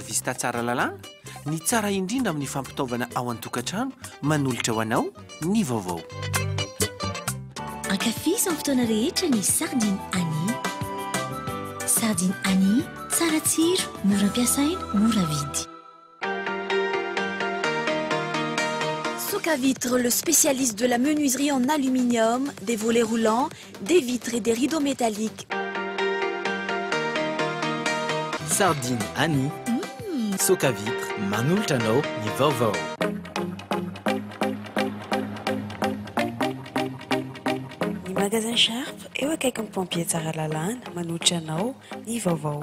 Vista Tsara Lalàna, ny tsara indrindra amin'ny fampitaovana ao an-tokantrano, manolotra ho anao ny vaovao. Ankafizo amin'ny fotoana rehetra ny Sardine Annie. Sardine Annie, tsara tsiro, mora ampiasaina, mora vidy. Soca Vitre, le spécialiste de la menuiserie en aluminium, des volets roulants, Des vitres et des rideaux métalliques. Sardine Annie, Soca Vitre, manolotra anao ny vaovao. Ny Magasin Sharp, eo akaikin'ny Pompiers Tsaralalana, manolotra anao ny vaovao.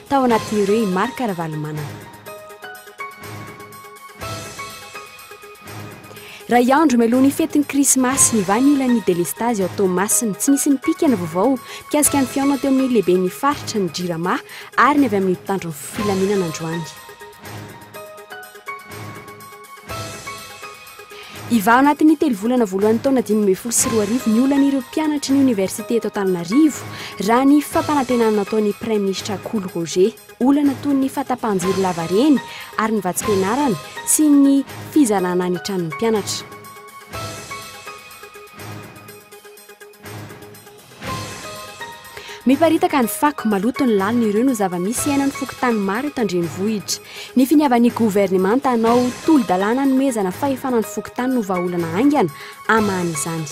Tao anatin'ireo i Marc Ravalomanana. Iray andro mialoha ny fetin'ny Krismasy, nivaha ny olan'ny delestazy ao Toamasina. Tsy nisy nipika ny vaovao mikasika ny fihaonana teo amin'ny lehiben'ny faritra, ny Jirama, ary ny avy amin'ny mpitandro ny filaminana androany. Hivaha anatin'ny telo volana voalohan'ny taona dimy ambin'ny folo sy roa arivo ny olan'ireo mpianatry ny oniversite eto Antananarivo, raha ny fampanantenana nataon'ny praiminisitra Kolo Roger. Olana toy ny fahatapahan-jiro lavareny ary ny vatsim-pianarana sy ny fizarana ny tranon'ny mpianatra. Miparitaka ny fako, maloto ny lalina, ireo no zava-misy iainan'ny fokontany maro eto an-drenivohitra. Ny finiavan'ny governemanta hanao tolo-dalàna hanomezana fahefana ny fokontany no vahaolana haingana hamaha izany.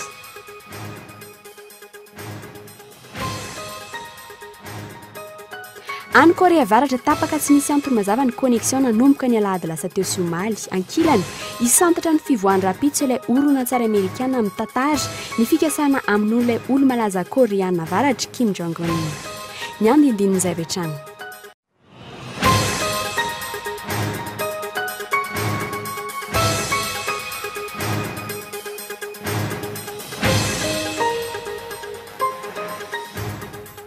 Any Korea Avaratra, tapaka tsy misy antony mazava ny connexion nanomboka ny alahady lasa teo sy omaly. Ankilany, hisantatra ny fivoahany rahampitso ilay horonantsary amerikana mitantara ny fikasana hamonoan'ilay olo-malaza Koreana Avaratra, Kim Jong Un. Ny andindinin'izay avy hatrany.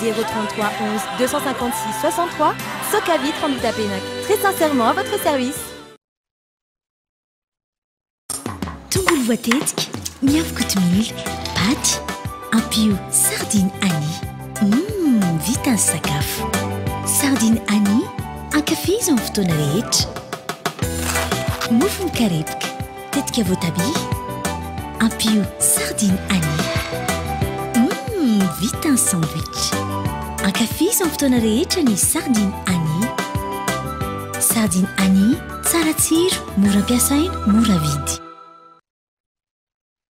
zéro trente trois onze deux cent cinquante six soixante trois soka vitre en bitapenac très sincèrement à votre service tongolo voatetika miavy kotomila paty ampio sardine ani mmm vita ny sakafo sardine ani ankafizo amin'ny fotoana rehetra mofo mikarepoka Tetika voatabia, ampio sardine anis. Hum, vita ny sandwich! Ankafizo amin'ny fotoana rehetra ny sardine anis. Sardine anis, tsara tsiro, mora ampiasaina, mora vidy.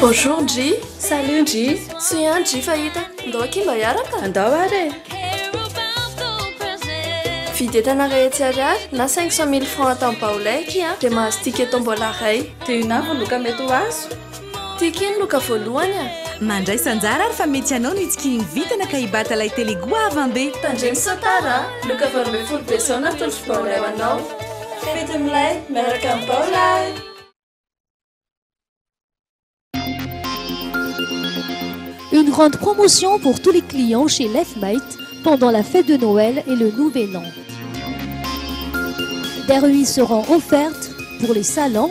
Bonjour Ndry, salut Ndry, soy an Ndry fahita, ndao akia mba hiaraka? Andao ary e! Vidy entana iray hetsy ariary na 500 mille francs atao am-baolay akia dia mahazo ticket tombola iray. Dia inona avy ny loka mety ho azo? Tiako iny loka voalohany a! Mandraisa anjara ary fa mety ianao no hitsikihin'ny vintana ka hibata ilay tele goavana be! Tandremo sao tara a! Loka valo ambin'ny folo Desona atolotro baolay ho anao! Fety milay miaraka amin'ny baolay! Une grande promotion pour tous les clients chez Lefmate pendant la fête de Noël et le nouvel an. Des remises seront offertes pour les salons,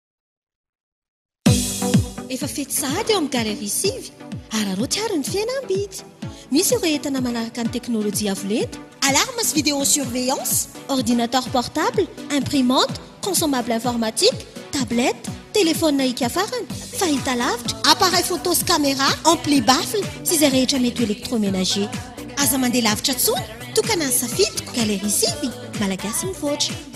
Efa fety sahady eo amin'ny Galerie sivy. Araraoty àry ny fihenam-bidy. Misy ireo entana manaraka ny teknolojia avo lenta, alarmes sy vidéosurveillance, ordinateur portable, imprimante, consommable informatique, tablette, telefaonina hika-farany, fahitalavitra, appareil photo sy camera, ampli, baffle sy izay rehetra mety ho électroménager. Aza mandeha lavitra intsony, tokana ny safidiko, Galerie sivy, Malagasy mivoatra.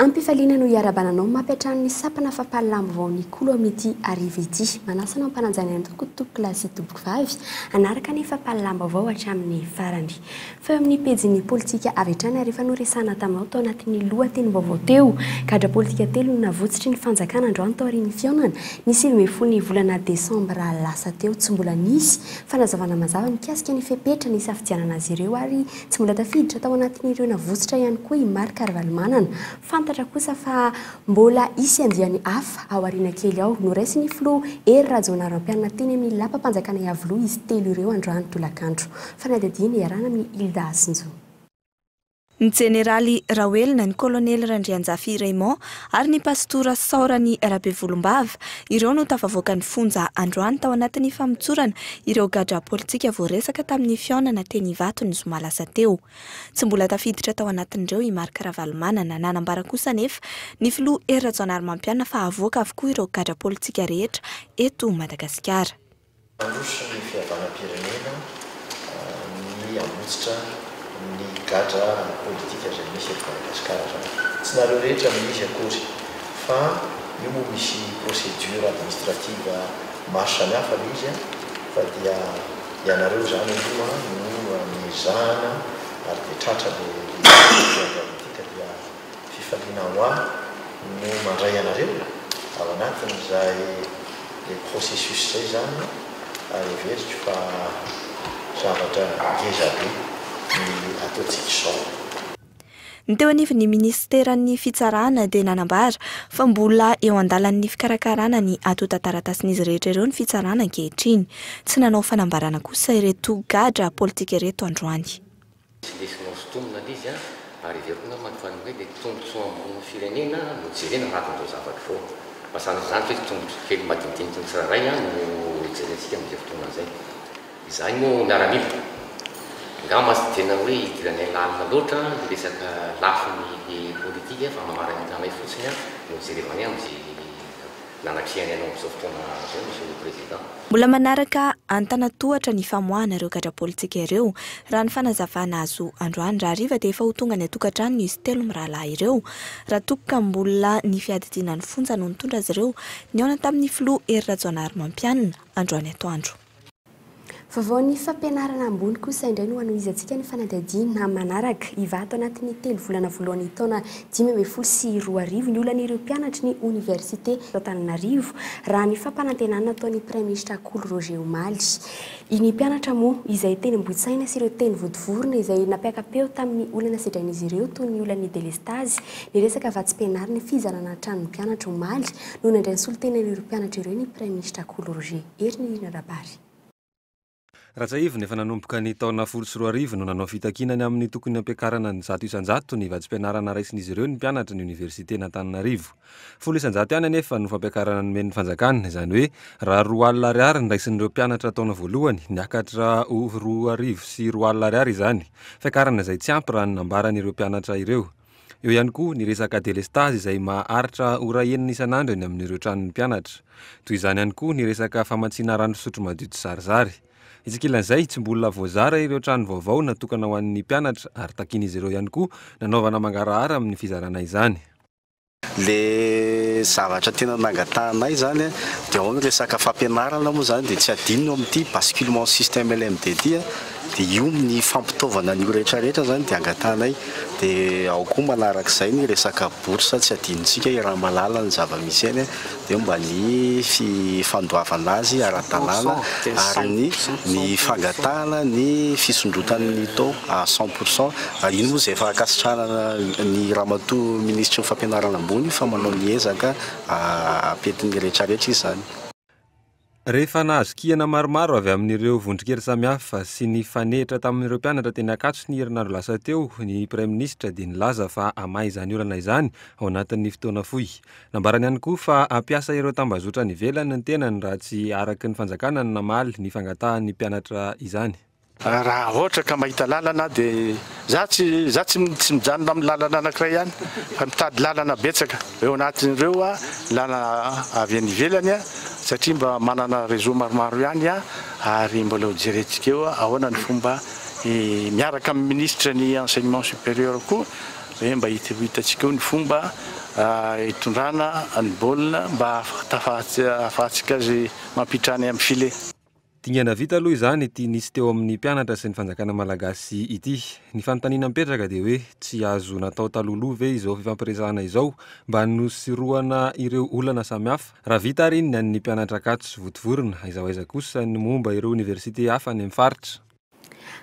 Am-pifaliana no hiarabana anao mafy hatrany ny sampana fampahalalam vao ny kolo amin'ity hariva ity. Manasa anao hampananjany an'i Tompoko tompoko lahy sy tompoko vavy hanaraka ny fampahalalam baovao hatramin'ny farany. Fa eo amin'ny pejin'ny politika avy hatrany ary efa noresahana taminao tao anatin'ny loha tenim baovao teo. Gadra politika telo no navotsitry ny fanjakana androany taorian'ny fihaonana ny sivy ambin'ny folo ny volana desambra lasa teo. Tsy mbola nisy fanazavana mazava mikasika ny fepetra nisafidianana azy ireo ary Tsy mbola tafiditra tao anatin'ireo navotsotra ihany koa i Marc Ravalomanana. Fantatra kosa fa mbola hisy andiany hafa ao aoriana kely ao. Noraisin'ny filoha Hery Rajaonarimampianina teny amin'ny lapam-panjakana Iavoloha izy telo ireo androany tolakandro. Fanadihadiana iarahana amin'i Hilda Hasinjo. Ny Jeneraly Rahoelina, ny Kolonely Randrianjafy Raymond ary ny pasitora Saorany Rabevolombava. Ireo no tafavoakan'ny fonja androany tao anatin'ny famotsorana ireo gadra politika voaresaka tamin'ny fihaonana teny Ivato ny zoma lasa teo. Tsy mbola tafiditra tao anatin'ireo i Marc Ravalomanana. Nanambara kosa anefa ny filoha Hery Rajaonarimampianina fa havoaka avokoa ireo gadra politika rehetra eto Madagasikara. Mandroso ny fihavanam-pirenena ny hamonjitra ny gadra ara-politika izay misy eto Madagasikara izao. Tsy nareo rehetra no izy akory fa io moa misy procédure administrative maro samihafa le izy fa dia ianareo izany aloha no ezahana ary dia tratra le izy dia dia Fifaliana ho ahy no mandray anareo ao anatin'izay le processus zay zany ary heveriko fa zavatra ngeza be ny ataontsika izao. Ny teo anivon'ny minisiteran'ny Fitsarana dia nanambara fa mbola eo an-dalan'ny fikarakarana ny antontan-taratasin'izy rehetra ireo ny Fitsarana ankehitriny. Tsy nanao fanambarana kosa ireto gadra politika ireto androany. Tsy ndesinao sy tonona le izy an! Ary heveriko namana fa ny hoe le tombotsoa ambon'ny firenena no jerena anatin'izao zavatra izao. Fa sanatria izany ve tombotsoa kely madinidiniky ny tsirairay an no jerentsika amin'izay fotoana izay. Izahay moa miaramila, angamba tsy tena hoe hidiranay lalina loatra ny resaka lafiny politika fa mamarana ny tananay fotsiny an no jerevanay amin'izay Nanakiany anao amin'izao fotoana izao, Monsieur le Président. Mbola manaraka antanantohatra ny famoahana ireo gadra politika ireo, raha ny fanazavana azo androany. Raha hariva dia efa ho tonga any an-tokantrano izy telo mirahalahy ireo, raha toky ka mbola ny fiadidiana ny fonja no nitondra azy ireo nihaona tamin'ny filoha Hery Rajaonarimampianina, androany atoandro. Vaovaon'ny fampianarana ambony kosa indray no hanohizantsika ny fanadihadiana manaraka. Hivaha tao anatin'ny telo volana voalohan'ny taona dimy ambin'ny folo sy roa arivo ny olan'ireo mpianatry ny oniversite eto Antananarivo, raha ny fampanantenana nataon'ny praiminisitra Kolo Roger omaly. Ny mpianatra moa izay teny Ambohitsaina sy ireo teny Vodivorona izay nampiaka-peo tamin'ny olana sedrain'izy ireo toy ny olan'ny delestazy, ny resaka vatsim-pianarana, fizarana ny tranon'ny mpianatra omaly no nandray ny solontenan'ireo mpianatra ireo ny praiminisitra Kolo Roger. Hery ny hira Rabary. Rajaivina, efa nanomboka ny taona folo sy roa arivo no nanao fitakiana ny amin'ny tokony hampiakarana ny zato isan-jato ny vatsim-pianarana raisin'izy ireo ny mpianatra ny Oniversiten'Antananarivo. Folo isan-jato ihany anefa no fampiakarana nomen'ny fanjakana, izany hoe raha roa alina ariary ny raisin'ireo mpianatra taona voalohany, niakatra ho roa arivo sy roa alina ariary izany, fiakarana izay tsy ampy raha ny nambaran'ireo mpianatra ireo. Eo ihany koa ny resaka delestazy izay maharitra ora enina isan'andro eny amin'ireo tranon'ny mpianatra. Toy izany ihany koa ny resaka famatsiana rano fisotro madio tsizarizary. Etsy ankilan'izay, tsy mbola voazara ireo trano vaovao natokana ho an'ny mpianatra ary takian'izy ireo ihany koa nanaovana mangarahara amin'ny fizarana izany. Ilay zavatra tena nangatahanay izany dia ao ny resaka fampianarana moa izany dia tsy adino eo amin'ity basculement système LMDT. Dia io ny fampitaovana an'io rehetra rehetra izany dia angatahanay. Dia ao koa manarak'izay ny resaka bourse, tsy adinontsika i Ramalala ny zava-misy eny, dia mba ny fandoavana azy ara-dalàna ary ny ny fangatahana ny fisondrotany ny taux à cent pour cent. Ary iny moa izay efa ankasitrahana ny Ramatoa Minisitry ny Fampianarana Ambony fa manao ny ezaka ampiantin'ny rehetra rehetra izy izany. Rehefa nahazo kihana maromaro avy amin'ireo vondron-kery samihafa sy nifanehitra tamin'ireo mpianatra teny Ankatso ny herinandro lasa teo, ny Praiminisitra dia nilaza fa hamaha izany olana izany ao anatin'ny fotoana fohy. Nambarany ihany koa fa hampiasa ireo tambazotra any ivelany ny tenany raha tsy araka ny fanjakana ny namaly ny fangatahan'ny mpianatra izany. Raha ohatra ka mahita lalana aho dia za tsy za tsy tsy mijanona amin'ny lalana anankiray ihany fa mitady lalana betsaka eo anatin'ireo a lalana avy any ivelany a satria mba manana réseau maromaro ihany aho ary mbola ho jerentsika eo ahoana ny fomba miaraka amin'ny ministre ny enseignement supérieur koa hoe mba hita hitantsika eo ny fomba hitondrana ny baolina mba hahafahantsika azy mampitrany amin'ny filet. Dingana vita aloha izany ity nisy teo amin'ny mpianatra sy ny fanjakana malagasy ity. Ny fanontaniana mipetraka dia hoe tsy azo natao talohaloha ve izao fifampiresahana izao mba hanosorohana ireo olana samihafa? Raha vita àry iny ny an'ny mpianatra Ankatso votovorona, aiza ho aiza kosa ny momba ireo oniversite hafa any amin'ny faritra?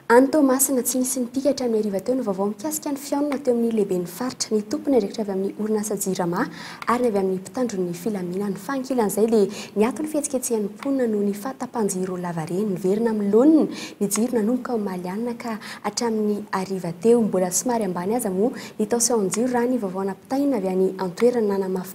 Any Toamasina, tsy nisy nipika hatramin'ny hariva teo ny vaovao mikasika ny fihaonana teo amin'ny lehiben'ny faritra, ny tompon'ny andraikitra avy amin'ny orinasa Jirama ary ny avy amin'ny mpitandro ny filaminana. Fa ankilan'izay dia niato ny fihetsiketsehan'ny mponina noho ny fahatapahan-jiro lavareny. Niverina amin'ny laoniny ny jiro nanomboka omaly alina ka hatramin'ny hariva teo. Mbola somary ambany aza moa ny tension-jiro raha ny vaovao nampitaina avy any an-toerana. Nanamafy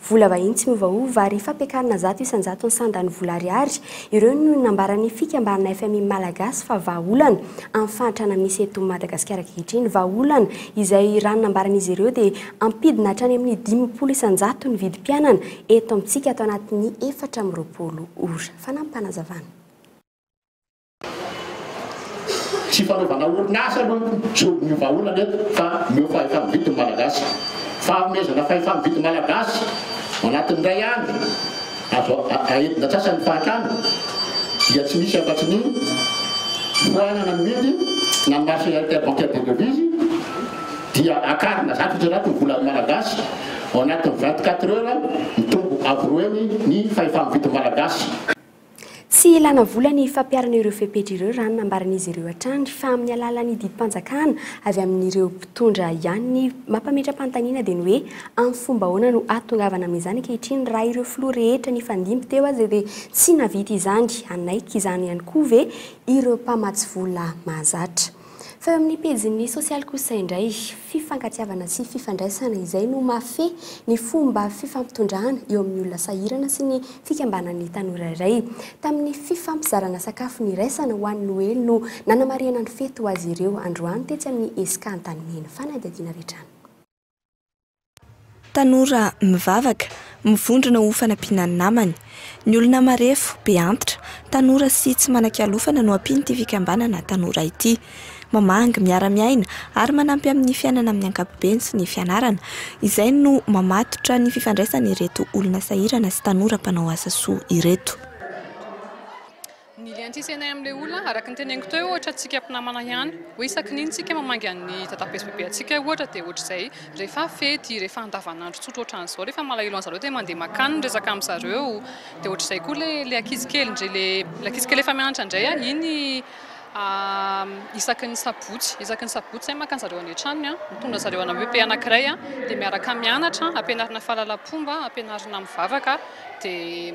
Vola vahiny tsy miovaova ary fampiakarina zato isan-jatony sandany vola ariary. Ireo no nambaran'ny fikambanana fmi Malagasy fa vahaolana amin'ny fahantrana misy eto Madagasikara ankehitriny. Vahaolana izay raha ny nambaran'izy ireo dia ampidina hatrany amin'ny dimampolo isan-jato ny vidim-piainana eto amintsika ato anatin'ny efatra amby roapolo ora. Fanampim-panazavana. Tsy fanaovana orinasa aloha no solon'ny vahaolana eto fa omeo fahefa-mividy ny Malagasy. Fahaomezana fahefa-mividy Malagasy anatin'ny iray andro azo aentina antsasany ny fahantrana dia tsy misy afa-tsy ny foanana mividy na ny marché interbancaire des devises dia akarina zato isan-jato ny volan'ny Malagasy ao anatin'ny vingt-quatre heures mitombo avo roa heny ny fahefa-mividy Malagasy. Tsy ilàna vola ny fampiharana ireo fepetra ireo raha ny nambaran'izy ireo hatrany fa amin'ny alalan'ny didim-panjakana avy amin'ireo mpitondra ihany. Ny mampametra-panontaniana dia ny hoe amin'ny fomba ahoana no hahatongavana amin'izany ankehitriny raha ireo filoha rehetra nifandimby teo aza dia tsy nahavita izany? Hanaiky izany ihany koa ve ireo mpamatsy vola mahazatra? Fa eo amin'ny pejin'ny sosialy kosa indray, fifankatiavana sy fifandraisana izay no mahafehy ny fomba fifampitondrana eo amin'ny olona sahirana sy ny fikambanan'ny tanora iray. Tamin'ny fifampizarana sakafo niraisana ho an'ny Noely no nanamarihana ny fety ho azy ireo androany tetsy amin'ny ESCA Antanimena. Fanadihadiana avy hatrany. Tanora mivavaka, mivondrona ho fanampiana ny namany. Ny olona marefo, be antitra, tanora sy tsy manan-kialofana no ampian'ity fikambanana tanora ity. Mamangy, miara-miaina ary manampy amin'ny fiainana amin'ny ankapobeny sy ny fianarana. Izay no mamatotra ny fifandraisan'ireto olona sahirana sy tanora mpanao asa soa ireto. Ny lien tisenay amin'ilay olona, araka ny teneniko teo, ohatra antsika mpinamana ihany, hoe isaky ny inona isika mamangy an'ny dadabe sy bebe antsika ohatra dia ohatr'izay rehefa fety, rehefa andavanandro tsotra ohatran'izao, rehefa malahelo an'zareo dia mandeha makany ny resaka amin'zareo, dia ohatr'izay koa ilay ilay ankizy kely indray, ilay ilay ankizy kely efa mianatra indray an, iny isaky ny sabotsy, isaky ny sabotsy izahay maka an'zareo any an-tranony an, mitondra an'zareo anabebeha anankiray an, dia miaraka mianatra, ampianarina fahalalam-pomba, ampianarina mivavaka. dia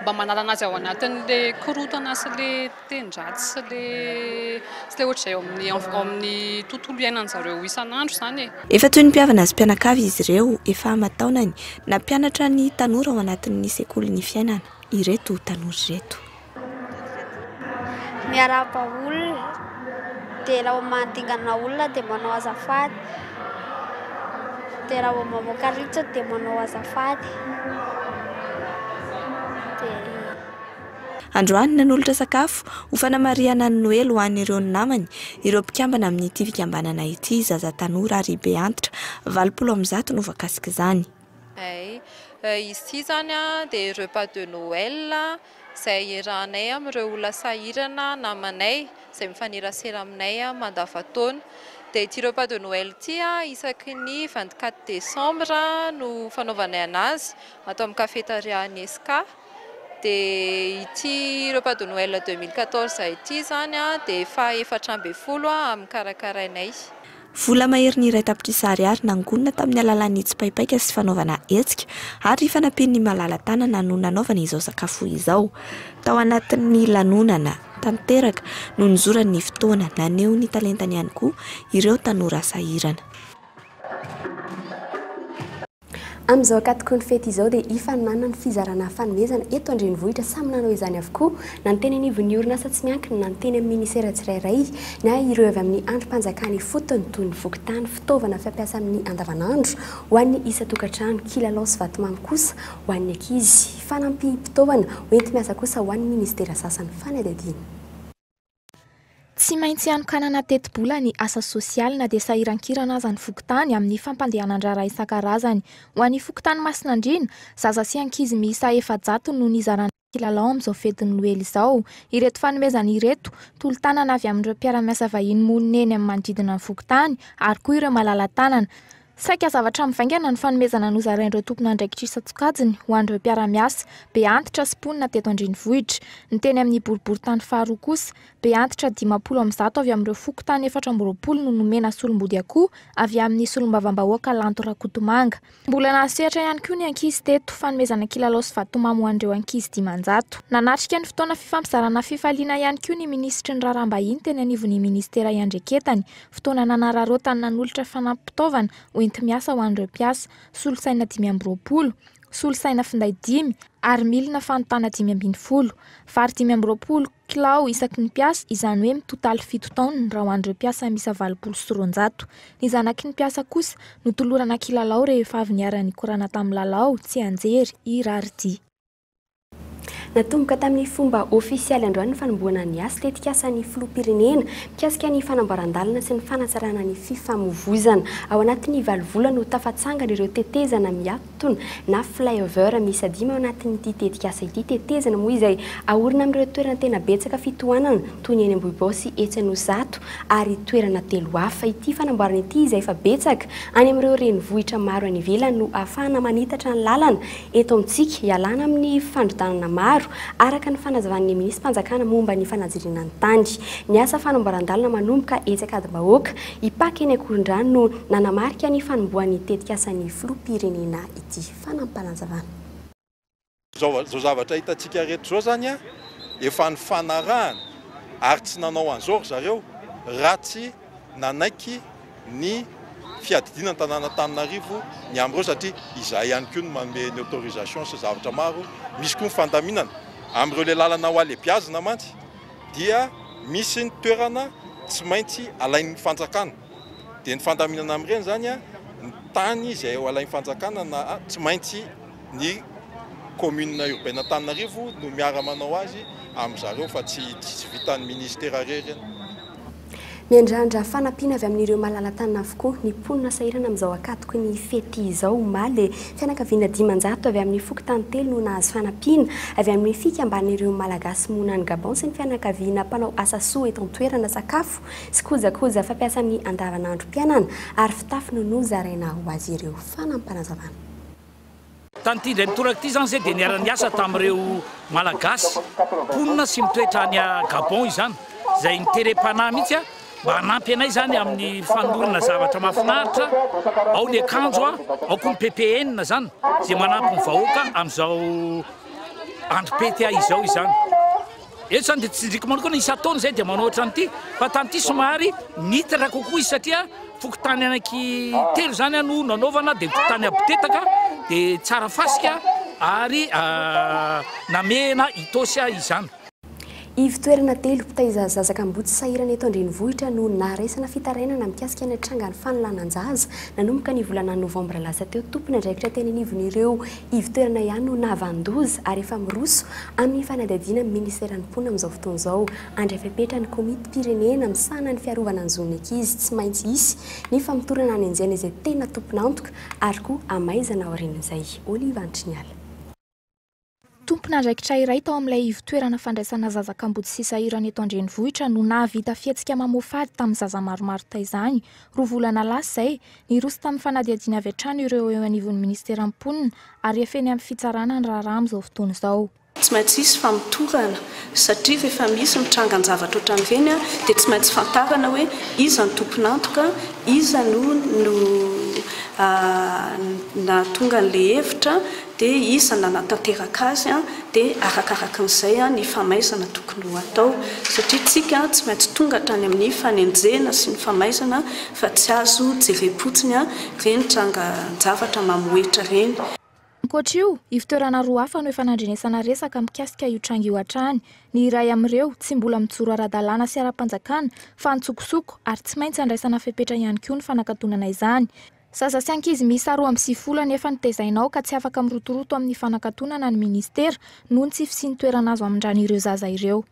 mba manalana azy ao anatin'ilay korontana sy ilay teny-dratsy sy ilay sy ilay ohatr'izay ao amin'ny ao amin'ny tontolo iainan'ny zareo isan'andro izany e. Efa toy ny mpihavana sy mpianakavy izy ireo efa aman-taonany nampianatra ny tanora ao anatin'ny sekolin'ny fiainana ireto tanora ireto. Miarahaba olona, dia raha vao manadingana olona dia manao azafady, dia raha vao mamoaka ritra dia manao azafady, dia. Androany, nanolotra sakafo ho fanamarihana ny Noely ho an'ireo namany ireo mpikambana amin'ity fikambanana ity, zaza tanora ary beantitra valopolo amby zato no voakasik'izany. Izy ity izany dia repas de Noël izay iarahanay amin'ireo olona sahirana namanay izay mifanerasera aminay mandavantaona. Dia ity repas de Noël ity isaky ny vingt quatre décembre no fanaovanay anazy ato amin'ny Café Tariahan'i SK. Dia ity repas de Noël deux mille quatorze ity izany dia faha efatra ambin'ny folo amin'ny karakarainay. Vola maherin'ny iray tapitrisa ariary nangonina tamin'ny alalan'ny tsipaipaika sy fanaovana hetsika ary fanampian'ny malala-tanana no nanaovana izao sakafo izao. Tao anatin'ny lanonana tanteraka no nizorany ny fotoana, naneho ny talentany ihany koa ireo tanora sahirana. Amin'izao ankatokon'ny fety izao dia hifaninanana ny fizarana fanomezana eto an-drenivohitra. Samy nanao izany avokoa na ny teny anivon'ny orinasa tsy miankina na ny teny amin'ny minisera tsirairay na ireo avy amin'ny andrim-panjakana ifotony toy ny fokontany, fitaovana fampiasa amin'ny andavanandro ho an'ny isan-tokantrano, kilalao sy vatomamy kosa ho an'ny ankizy, fanampim-pitaovana hoenti-miasa kosa ho an'ny minisitera sasany fanadihadiana. Tsy maintsy hanokanana tetibola ny asa sosialy na dia sahirankirana aza ny fokontany amin'ny fampandehanan-draharaha isan-karazany. Ho an'ny fokontany Masinandriana, zaza sy ankizy miisa efajato no nizarana kilalao amin'izao fetin'ny noely izao. Ireto fanomezana ireto, tolo-tanana avy amin'ireo mpiara-miasa vahiny monina eny amin'ny manodidina ny fokontany ary koa ireo malala-tanana, Saika zavatra mivaingana ny fanomezana nozarain'ireo tompon'andraikitra isan-tsokajiny ho an'ireo mpiara-miasa, be antitra sy mponina teto an-drenivohitra. Ny teny amin'ny boriborintany faharoa kosa, be antitra dimampolo amin'ny zato avy amin'ireo fokontany efatra amby roapolo no nomena solombody akoho avy amin'ny solombavambahoaka Lanto Rakotomanga. Mbola nahasehatra ihany koa ny ankizy teto, fanomezana kilalao sy vatomamy ho an'ireo ankizy dimanjato. Nanatrika ny fotoana fifampizarana fifaliana ihany koa ny minisitry ny raharaham-bahiny teny anivon'ny minisitera iandreketany, Fotoana nanararaotany nanolotra fanampim-pitaovana ho enti-miasa ho an'ireo mpiasa, solosaina dimy amby roapolo, solosaina finday dimy ary milina fanontana dimy ambin'ny folo. Vary dimy amby roapolo kilao isaky ny mpiasa, izany hoe mitotaly fito taonina raha ho an'ireo mpiasa miisa valopolo sy roanjato. Ny zanaky ny mpiasa kosa notolorana kilalao rehefa avy niara-nikorana tamin'ny lalao tsianjery i Raridia. Natomboka tamin'ny fomba ofisialy androany ny fanombohana ny asa tetikasan'ny filoham-pirenena mikasika ny fanamboaran-dalana sy ny fanatsarana ny fifamovoizana. Ao anatin'ny valo volana ho tafatsangana ireo tetezana miatona na flyover miisa dimy ao anatin'ity tetikasa ity. Tetezana moa izay aorina amin'ireo toerana tena betsaka fitohanana toy ny eny Ambohibao sy etsy Anosizato ary toerana telo hafa. Ity fanamboarana ity izay efa betsaka any amin'ireo renivohitra maro any ivelany no ahafahana manitatra ny lalana eto amintsika, hialana amin'ny fandrodanana maro, araka ny fanazavan'ny minisi-panjakana momba ny fanajiriana ny tany. Ny asa fanamboaran-dalana manomboka etsy Ankadimbahoaka, Ipaky eny Ankorondrano no nanamarika ny fanombohan'ny tetikasan'ny filoham-pirenena ity. Fanampanazavan'. Izao izao zavatra hitantsika rehetra izao izany efa nifanarahana ary tsy nanao an'izao ry zareo raha tsy nanaiky. ny fiadidiana ny tanàn'Antananarivo ny amin'ireo satria izahay ihany koa no manome ny autorisation sy zavatra maro, misy koa ny fandaminana amin'ireo ilay lalana hohalebiazina mantsy dia misy ny toerana tsy maintsy alain'ny fanjakana dia ny fandaminana amin'ireny izany ny tany izay ho alain'ny fanjakana na tsy maintsy ny commune urbaine Antananarivo no miara manao azy amin-dry zareo fa tsy tsy vitan'ny ministera irery ny Miandrandra fanampiana avy amin'ireo malala-tanana avokoa ny mponina sahirana amin'izao ankatoky ny fety izao omaly. Fianakaviana dimanjato avy amin'ny fokontany telo no nahazo fanampiana avy amin'ny Fikambanan'ireo Malagasy monina any Gabon sy ny fianakaviana mpanao asa soa eto an-toerana sakafo sy kojakoja fampiasa amin'ny andavanandrom-piainana ary fitafy no nozaraina ho azy ireo. Fanampinazavana. Tamin'ity indray mitoraka ity izany izay dia niara-niasa tamin'ireo Malagasy mponina sy mitoetra any Gabon izany izay niterem-panahy mihitsy mba hanampy anay izany amin'ny fanolorana zavatra mahafinaritra, ao ny akanjo, ao koa ny ppn izany izay manampy ny vahoaka amin'izao androm-pety izao izany. Eto izany dia tsinjiko manokana, isan-taona izahay dia manao ohatran' ity, fa tany ity somary nitatra kokoa izy satria fokontany anaky telo izany no nanaovana, dia ny fokontany Abotetaka, dia Tsarafasika ary Namehana Itaosy izany. Ivo-toerana telo mpitaiza zaza kamboty sahirana eto an-drenivohitra no naharaisana fitarainana mikasika ny hatranga ny fanolanan-jaza nanomboka ny volana novambra lasa teo tompon'andraikitra teny anivon'ireo Ivo-toerana ihany no nahavanon-doza ary efa miroso amin'ny fanadihadiana amin'ny Ministeran'ny Mponina amin'izao fotoana izao. Handray fepetra ny Komitim-pirenena misahana ny fiarovana ny zon'ny ankizy. Tsy maintsy hisy ny famotorana hanenjehana izay tena tompon'antoka ary koa hamaizana aorian'izay. Olive Antriniala. Tompon'andraikitra iray tao amin'ilay ivo-toerana fandraisana zaza kamboty sy sahirana eto an-drenivohitra no nahavita fihetsika mamoa fady tamin'ny zaza maromaro taizany, roa volana lasa izay, Niroso tamin'ny fanadihadiana avy hatrany ireo eo anivon'ny Ministeran'ny Mponina ary efa eny amin'ny fitsarana ny raharaha amin'izao fotoana izao. Tsy maintsy hisy famotorana satria rehefa misy ny trangan-javatra ohatran'ireny dia tsy maintsy fantarana hoe iza ny tompon'antoka, iza no nahatonga an'ilay hevitra dia iza nanatanteraka azy dia arakarakin'izay ny famaizana tokony ho atao satria isika tsy maintsy tonga hatrany amin'ny fanenjehana sy ny famaizana Fa tsy azo jerem-potsiny an! Re ny trangan-javatra mamohehitra reny. Ankoatra io, ivotoerana roa hafa no efa nandrenesana resaka mikasika io tranga io hatrany. Ny iray amin'ireo, tsy mbola mijoro ara-dalàna sy ara-panjakana, fa antsokosoko, ary tsy maintsy andraisana fepetra ihany koa ny fanakatonana izany. Zaza sy ankizy miisa roa amby sivifolo anefa no tezaina ao ka tsy afaka mirotoroto amin'ny fanakatonana ny Ministera, noho ny tsy fisian'ny toerana azo hamindràna ireo zaza ireo.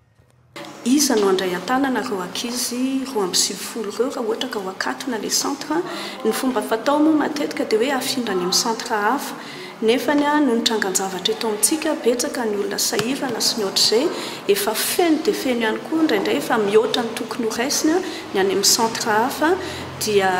Iza no handray an-tanana ireo ankizy roa amby sivifolo ireo raha ohatra ka ho akatona ilay centre? Ny fomba fatao moa matetika dia hoe afindra any amin'ny centre hafa. Nefany noho ny trangan-javatra eto amintsika, betsaka ny olona sahirana sy ny ohatr'izay, efa feno dia feno ihany koa indraindray efa mihoatra ny tokony ho raisina ny any amin'ny centre hafa dia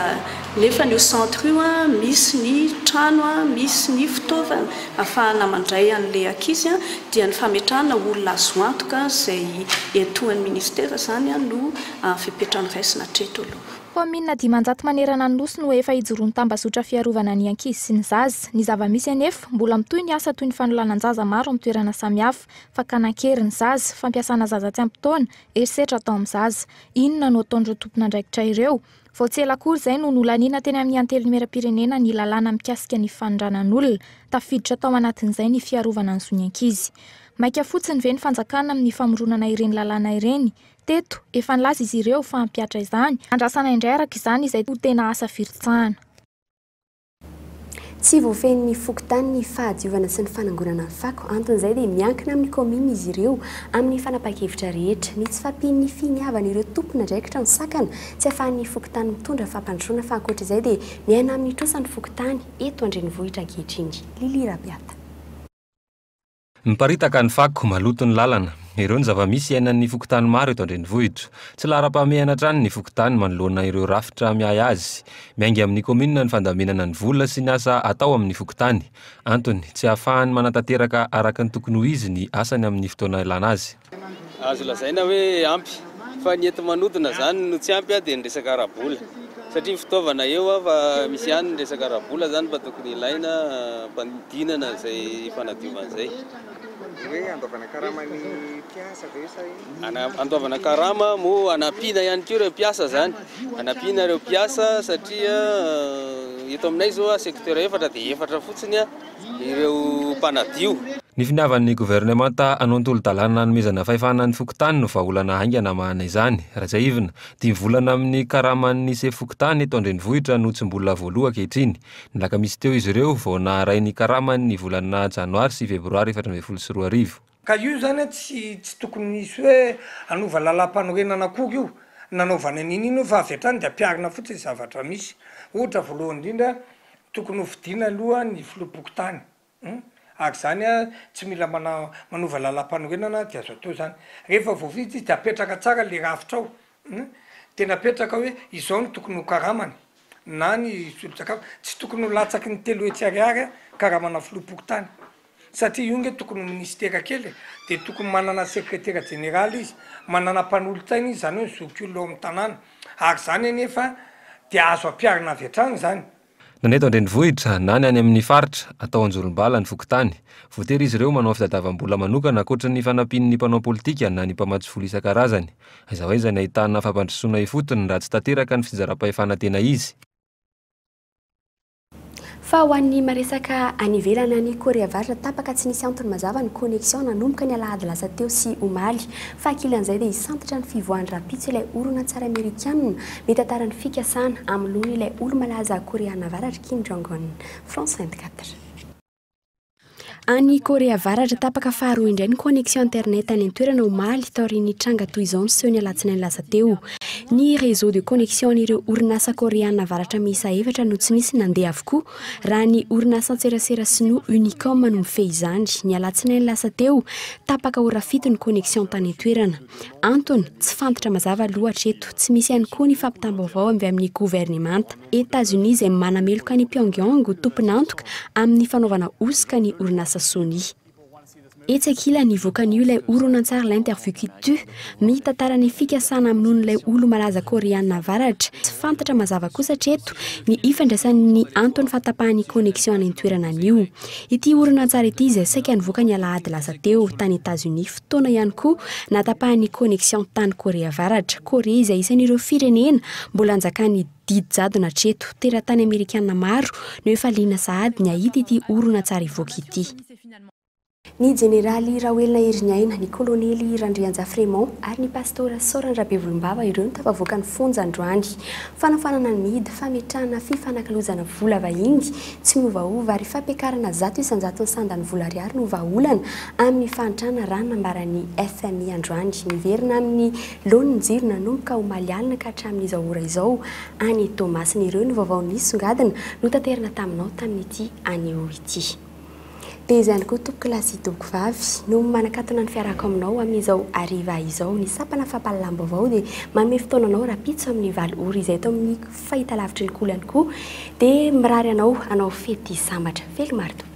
nefany io centre io misy ny trano, misy ny fitaovana, afahana mandray an'ilay ankizy dia ny fametrahana olona azo antoka izay iantohan'ny ministera izany no fepetra noraisina hatreto aloha. Kaominina dimanjato manerana ny Nosy no efa hijoroan'ny tambazotra fiarovana ny ankizy sy ny zaza. Ny zava-misy anefa, mbola mitohy ny asa toy ny fanolanan-jaza maro amin'ny toerana samihafa, fakana an-kery ny zaza, fampiasana zaza tsy ampy taona, herisetra atao amin'ny zaza. Inona no ataon'ireo tompon'andraikitra ireo? Vao tsy ela akory izay no nolaniana teny amin'ny Antenimierampirenena ny lalàna mikasika ny fanondranan'olona. Tafiditra tao anatin'izay ny fiarovana ny zon'ny ankizy. Maika fotsiny ve ny fanjakana amin'ny famoronana ireny lalàna ireny? Teto, efa nilaza izy ireo fa hampihatra izany, andrasana indray araka izany izay ho tena asa firotsahana. Tsy voafehin'ny fokontany ny fahadiovana sy ny fanangonana ny fako. Anton'izay dia miankina amin'ny kaominina izy ireo amin'ny fanapahan-kevitra rehetra. Ny tsy fahampian'ny finiavan'ireo tompon'andraikitra ny sakana, tsy ahafahan'ny fokontany mitondra fampandrosoana fa ankoatra izay dia miaina amin'ny trosan'ny fokontany eto an-drenivohitra ankehitriny. Lily Rabiata. Miparitaka ny fako, maloto ny lalana. Ireo ny zava-misy iainan'ny fokontany maro eto an-drenivohitra. Tsy laharam-pahamehana hatrany ny fokontany manoloana ireo rafitra miahy azy. Miainga amin'ny kaominina ny fandaminana ny vola sy ny asa atao amin'ny fokontany. Antony, tsy ahafahany manatanteraka araka ny tokony ho izy ny asany amin'ny fotoana ilana azy. Azo lazaina hoe ampy, fa ny enti-manodina izany no tsy ampy dia ny resaka ara-bola, satria fitaovana eo fa misy ihany ny resaka ara-bola izany fa tokony ilaina hampanodinana izay fanadiovana izay. Dia hoe handoavana karama ny mpiasa ve sa inona? Handoavana karama moa hanampiana ihany koa ireo mpiasa izany, hanampiana ireo mpiasa satria eto aminay izao secteur efatra dia efatra fotsiny. ireo mpanadio. Ny finiavan'ny governemanta hanontolo-dalàna hanomezana fahefana ny fokontany no vahaolana haingana hamahana izany. Rajaivina, dimy volana amin'ny karaman'ny sefo fokontany eto an-drenivohitra no tsy mbola voaloa ankehitriny. Ny alakamisy teo izy ireo vao naharay ny karamany ny volana janoary sy febroary efatra ambin'ny folo sy roa arivo. Ka io izany an tsy tsy tokony hisy hoe hanova lalam-panorenana akory io nanaovana an'iny iny io fa avy hatrany dia ampiharina fotsiny ny zavatra misy. Ohatra voalohany indrindra tokony ho fidiana aloha ny filoham-pokontany hum ary izany an tsy mila mana manova lalam-panorenana dia azo atao izany. Rehefa voafidy izy dia apetraka tsara ilay rafitra ao hum dia napetraka hoe izao no tokony ho karamany na ny solon-tsakafo. Tsy tokony ho latsaky ny telo hetsy ariary an karamana filoham-pokontany. Satria io nge tokony ho minisitera kely e! Dia tokony manana sekretera jeneraly izy, manana mpanolotsaina izy, zany hoe zokiolona ao amin'ny tanàna. Ary zany anefa dia azo ampiharina avy hatrany zany. Na ny eto an-drenivohitra, na ny any amin'ny faritra, atao anjolom-bala ny fokontany. Voatery izy ireo manao fitadiavam-bola manokana ankoatry ny fanampian'ny mpanao politika na ny mpamatsy vola isan-karazany. Aiza ho aiza ny ahitana fampandrosoana ifotony raha tsy tanteraka ny fitsinjaram-pahefana tena izy? Fa ho an'ny maresaka any ivelany any Corée Avaratra, tapaka tsy nisy antony mazava ny connexion nanomboka ny alahady lasa teo sy omaly. Fa ankilan'izay dia hisantatra ny fivoahany rahampitso ilay horonantsary amerikanina mitantara ny fikasana hamonoana ilay olo-malaza Koreana Avaratra Kim Jong-un. France 24. Any Korea Avaratra, tapaka faharoa indray ny connexion internet any an-toerana omaly taorian'ny tranga toy izao niseho ny alatsinainy lasa teo. Ny réseau de connexion an'ireo orinasa koreana avaratra miisa efatra no tsy nisy nandeha avokoa, raha ny orinasan-tserasera sinoa Unicom no mifehy izany. Ny alatsinainy lasa teo, tapaka ora fito ny connexion tany an-toerana. Antony, tsy fantatra mazava aloha hatreto. Tsy misy ihany koa ny fampitam-baovao avy amin'ny governemanta. Etazonia izay manameloka an'i Pyongyang ho tompon'antoka amin'ny fanaovana hosoka ny orinasa Sony. Etsy ankilany, vokan'io ilay horonantsary L'interview qui tue, mitantara ny fikasana hamonoan'ilay olo-malaza Koreana Avaratra. Tsy fantatra mazava kosa hatreto ny ifandraisan'ny antony fahatapahan'ny connexion any an-toerana an'io ity horonantsary ity izay saika nivoaka ny alahady lasa teo tany Etazonia. taona ihany koa natapahan'ny connexion tany Korea Avaratra. Korea izay isan'ireo firenena mbola anjakan'ny didy jadona hatreto. Teratany Amerikana maro no efa liana sahady ny hahita ity horonantsary hivoaka ity. Ny Jeneraly Rahoelina Heriniaina, ny Kolonely Randrianjafy Raymond ary ny Pastora Saorany Rabevolombava ireo no tafavoaka ny fonja androany. Fanafoanana ny mihidy, fametrahana fifanakilozana vola vahiny Tsy miovaova ary fampiakarana zato isan-jaton'ny sandan'ny vola ariary no vahaolana amin'ny fahantrana raha nambara ny fmi androany. Miverina amin'ny laoniny ny jiro nanomboka omaly alina ka hatramin'izao ora izao any Toamasina. Ireo no vaovao nisongadina notaterina taminao tamin'ity anio ity. Dia izany koa tompoko lahy sy tompoko vavy no manakatona ny fiarahako aminao amin'izao hariva izao. Ny sampana fampahalalam-baovao dia manome fotoana anao rahampitso amin'ny valo ora izay eto amin'ny fahitalavitry ny Kolo ihany koa dia mirary anao hanao fety sambatra. Velomaro tompoko.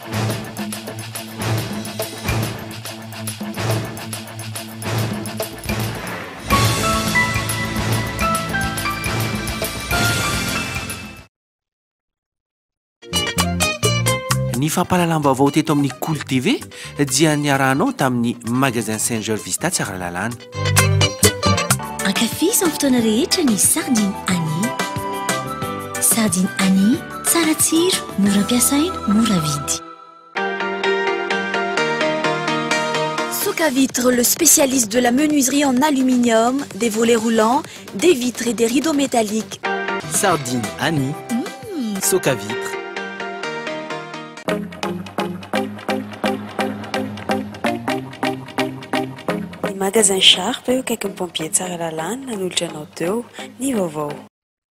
Ny fampahalalam-baovao teto amin'ny Kolo TV dia niarahanao tamin'ny Magasin Saint Georges Vista Tsaralalàna. Ankafizo amin'ny fotoana rehetra ny sardine Annie. Sardine Annie, tsara tsiro, mora ampiasaina, mora vidy. Soka Vitre, le spécialiste de la menuiserie en aluminium, des volets roulants, Des vitres et des rideaux métalliques. Sardine Annie. Mmh. Soca vitre. Ny magasin Sharp eo akaikin'ny pompier Tsaralalana nanolotra anao teo ny vaovao.